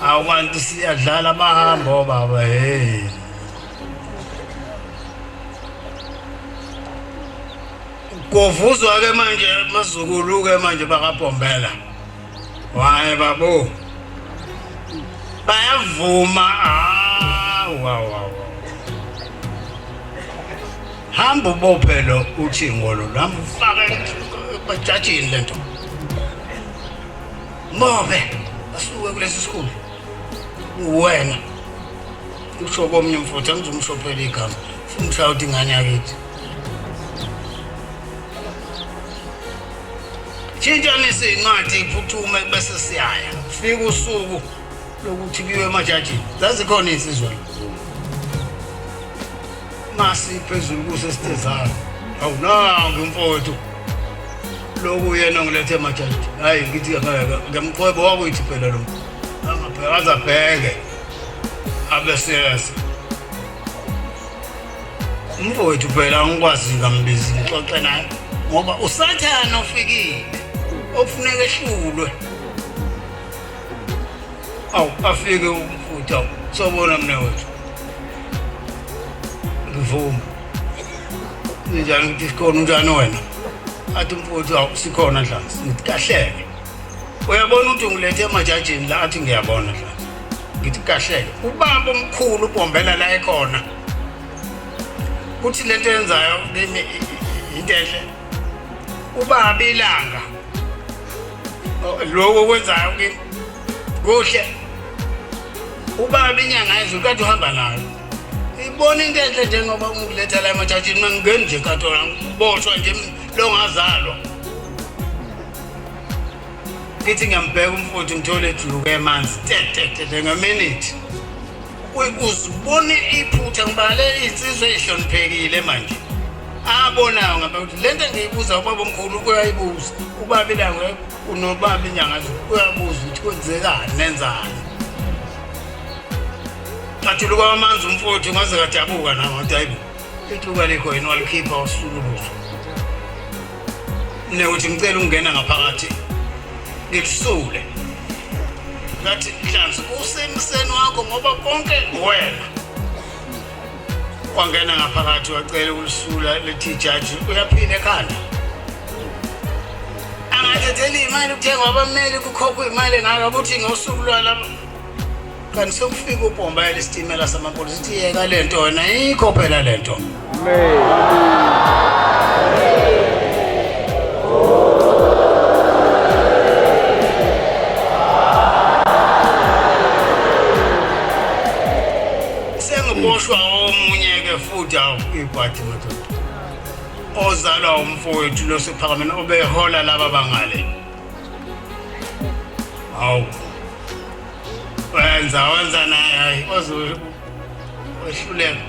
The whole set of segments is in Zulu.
Awanti siyadlala bahamba obaba hey. Kovuzwa ke manje mazukulu ke manje bakabombela. Waye babo. Bayavuma ah wa wa. Hamba ubophe lo uthi ngolo lamfaka bajajini lento. Mobe asuke kulesi sikhulu. Uwena. Usho komnye mfuthu angizomshophela igama. Funa ushaya uthi ingane yakithi. Tshintshanisa incwadi iphuthume bese siyaya. Fika usuku lokuthi kuyiwe emajajini. Zazikhona insizwa. Masi phezulu kuse sithezana. Awunanga mfowethu. Lokhu yena ngilethe majaji. Hayi ngithi ngeke ngemqwebo wakuyithi phela lo. Angabheka azabheke. Abe serious. Mfowethu phela angikwazi ngambizi ngixoxe naye ngoba usathana ofikile. Okufuneka ehlulwe. awu afike umfutha sobona mina wethu ngivuma njani ukuthi sikhona unjani wena athi umfuthu awu sikhona dlansi ngithi kahleke uyabona ukuthi ungilethe emajajini la athi ngiyabona dlansi ngithi kahleke ubaba omkhulu ubombela la ekhona kuthi lento yenzayo kimi into enhle ubaba ilanga lokho okwenzayo kimi kuhle ubaba inyanga ezulu kade uhamba nayo ibona into enhle njengoba ungiletha la emathathini mangingeni nje katola ngiboshwa nje longazalwa ngithi ngiyambheka umfowethu ngithole ejuluke emanzi tetetete ngaminithi uzibone iphutha ngoba le insizwa ehloniphekile manje abonayo ngabe ukuthi le nto engiyibuza ubaba omkhulu uyayibuza ubaba ilangwe unobaba inyanga uyabuza ukuthi kwenzekani nenzani ngathuluka amanzi umfowethu ngaze kadabuka namadoda ayibo ithuba likho yini walikhipha wasukuluza newuthi ngicela ukungena ngaphakathi ngikusule ngathi nhlanzi usemseni wakho ngoba konke wena wangena ngaphakathi wacela ukulisula lethi jaji uyaphila ekhanda angathetheli imali kuthengwa abameli kukhokhwa imali ngaka ukuthi ngosuku lwalaba kanti sekufika ubhomba elesitimela samaphoyisa ithi yeka le nto wena yikho phela le nto sengiboshwa omunye ke futhi awuyibhadi madoda ozalwa umfowethu lo sephakameni obehola laba bangale awu wenza wenza naye hayi oze wehluleka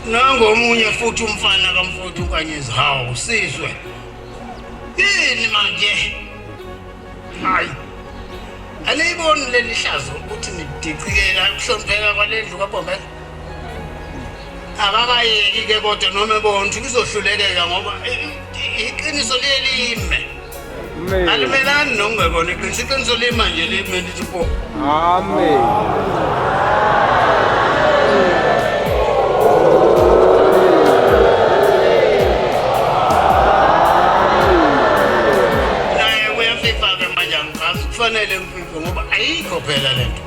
nangomunye futhi umfana kamfuthu unkanyezi hawu sizwe yini manje hayi aniyiboni leli hlazo ukuthi nidicikela ukuhlonipheka kwalendlu kabomela akakayeki ke kodwa noma bontu kuzohlulekeka ngoba iqiniso liye lime alimelani nokungekona iqiniso iqiniso lima nje lime lithi po amen naye kuyafifa ke manje angifasi kufanele ngififo ngoba ayikho phela le nto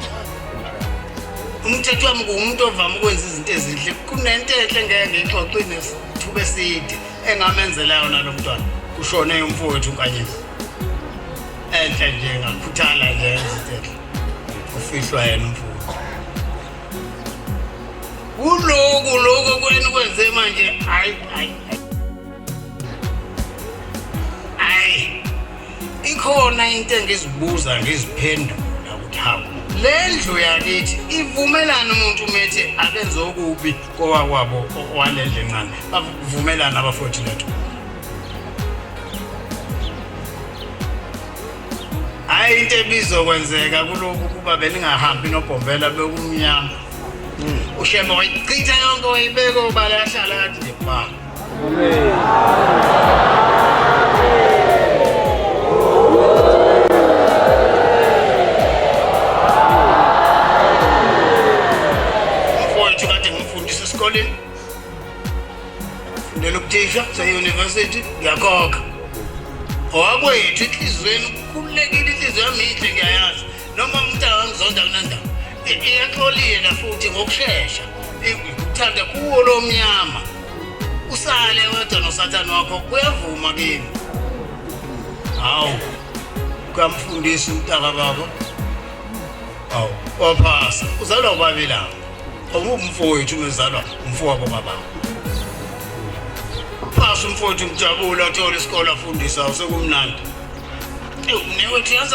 umthetho wami nguwumuntu ovame ukwenza izinto ezinhle kunento enhle ngeke ngiyixoxe nesithuba eside engamenzela yona lo mntwana kushone umfowethu unkanyezi enhle nje ngakhuthala nje ezithethe ufihlwa yena umfowethu kuloku loku kwenu kwenze manje hayi hayi Ayi. Ikhona into engizibuza ngiziphendula ukuthi hawu. Le ndlu yakithi ivumelana umuntu umethi akenze okubi kowakwabo walendle encane. Bavumelana abafowethu lethu. Hayi into ebizokwenzeka kulokhu kuba beningahambi nobhombela bekumnyama. Ushembe wayichitha yonke wayibeka obala yahlala yathi ngebhanga. Mfowethu kade ngimfundisa esikoleni. Fundela ubuthisha se-university ngiyakhokha. Owakwethu enhliziyweni ukhululekile inhliziyo yami yinhle ngiyayazi. noma umuntu angangizonda kunandawo iyaxolile futhi ngokushesha ikuthanda kuwo lo mnyama usale wedwa nosathane wakho kuyavuma kimi hawu kamfundisi umntaka baba awu waphasa uzalwa ubabi lawo awumfowethu umezalwa umfowabo baba phasa umfowethu ngijabula athole isikole afundisa usekumnandi ewumnewethu yazi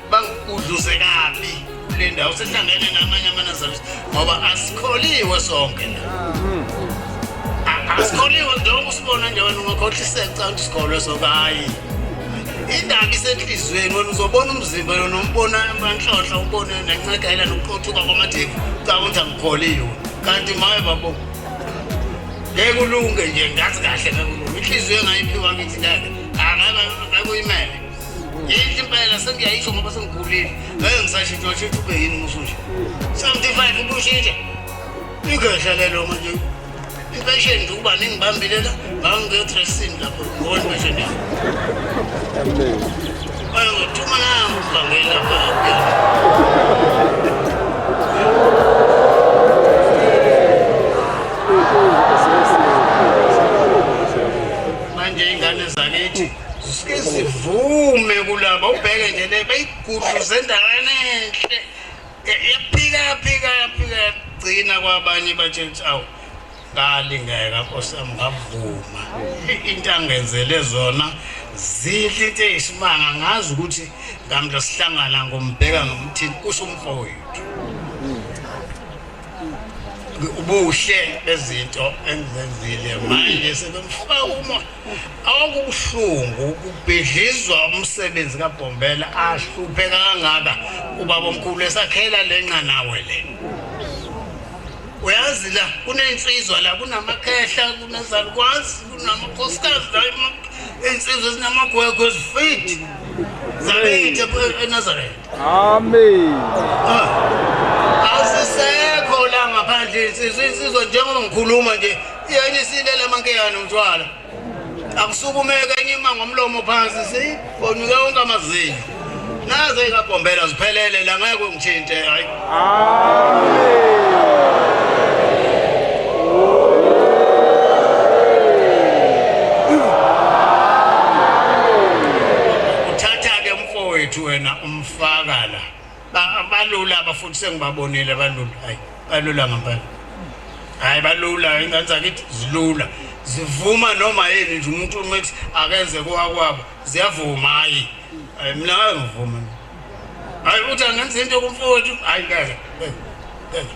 bangigudluze kabi kule ndawo sehlangene namanye amanazareth ngoba asikholiwe sonke asikholiwe njengoba usibona nje wena ungakhohliseka canga ukuthi sikholwe soke hhayi indaba isenhliziyweni wena uzobona umzimba yona umbona amanhlohla umbone nencekela nokuqothuka kwamadevu canga ukuthi angikholiwe kanti maye babo ngeke ulunge nje ngazi kahle ngeke ulunge inhliziyo engayiphiwa ngithi ngeke angeke ngeke uyimele yini impela sengiyayisho ngoba sengikhulile ngeke ngisashintshwa shintshwa ube yini musu nje seventy five ubushintsha igehla lelo manje impesheni nje ukuba ningibambile la ngangiyotresini lapho ngibona impesheni yami ayo thuma nangu ubhangeli lapha sizivume kulaba ubheke nje le beyigudluze endaweni enhle yaphika yaphika yaphika yagcina kwabanye batshela ukuthi awu ngalingeka nkosi yami ngavuma into angenzele zona zinhle into eyisimanga ngazi ukuthi ngamhla sihlangana ngombheka ngomthini kusho umfowethu ubuhle bezinto engizenzile manje sebemfuka uma Akubuhlungu ukubhidlizwa umsebenzi kaBhombela ahluphe kangaka ubaba omkhulu esakhela lenxa nawe le. Uyazi la kunensizwa la kunamakhehla kunezalukwazi kunamakhosikazi la insizwa ezinamagwegwe ezifithi. Zabe into eNazareth. Amen. Asisekho la ngaphandle insizwa insizwa njengoba ngikhuluma nje yenye isilela amankeyana umthwala. Akusukumeka enye ima ngomlomo phansi si bonuke wonke amazinyo. Naze kagombela ziphelele la ngeke ngithinte hayi. Mfowethu wena umfaka la. Ba- Balula abafundi sengibabonile balula. Hayi, balula ngempela. Hayi balula ingane zakithi zilula. Zivuma noma yini nje umuntu uma ethi akenze kowakwabo ziyavuma hayi. Hayi mina ngeke ngivuma. Hayi uthi angenza into kumfowethu hayi ngeke. ngeke, ngeke.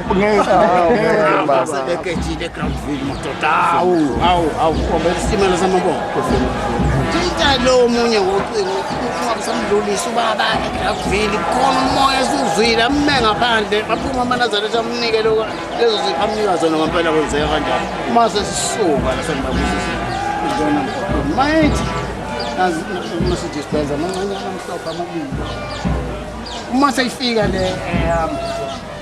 lo omunye ngocingo usamdlulisa ubaba edragville khona umoya esiwuzwile amume ngaphandle aphuma amanazaretha amunike lezo zipho amunika zona ngempela kwenzeka kanjani uma sesisuka lasenibabusisa izona mayithi nasidispenza amancane amhlophe amabili uma seyifika le ehamba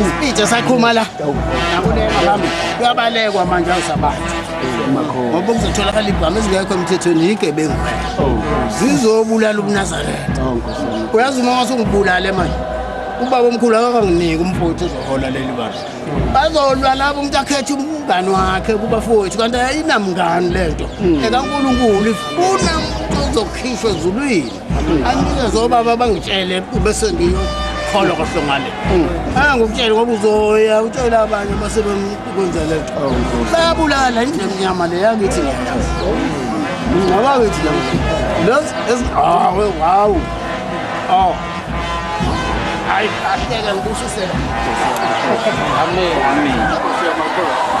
isipitha sakhuma la kuyabalekwa manje awusabantu ngoba kuzotholakala ibhamu ezingekho emthethweni yigebengu zizobulala ubunazaretha uyazi uma wasungibulale manje ubaba omkhulu akakanginiki umfowethu uzohola leli bala bazolwa labo umuntu akhethe umngani wakhe kubafowethu kanti ayinamngani le nto ekankulunkulu ifuna umuntu ozokhishwa ezulwini Angizwe baba bangitshele bese ngiyokholwa kahle ngale. Angikutshele ngoba uzoya utshela abanye base bemkwenza le nto. Bayabulala indlela emnyama le yangithi ngiyayazi. Ngaba ngithi la. Los es ah wow. Oh. Ay, ahleke ngibusisela. Amen. Amen.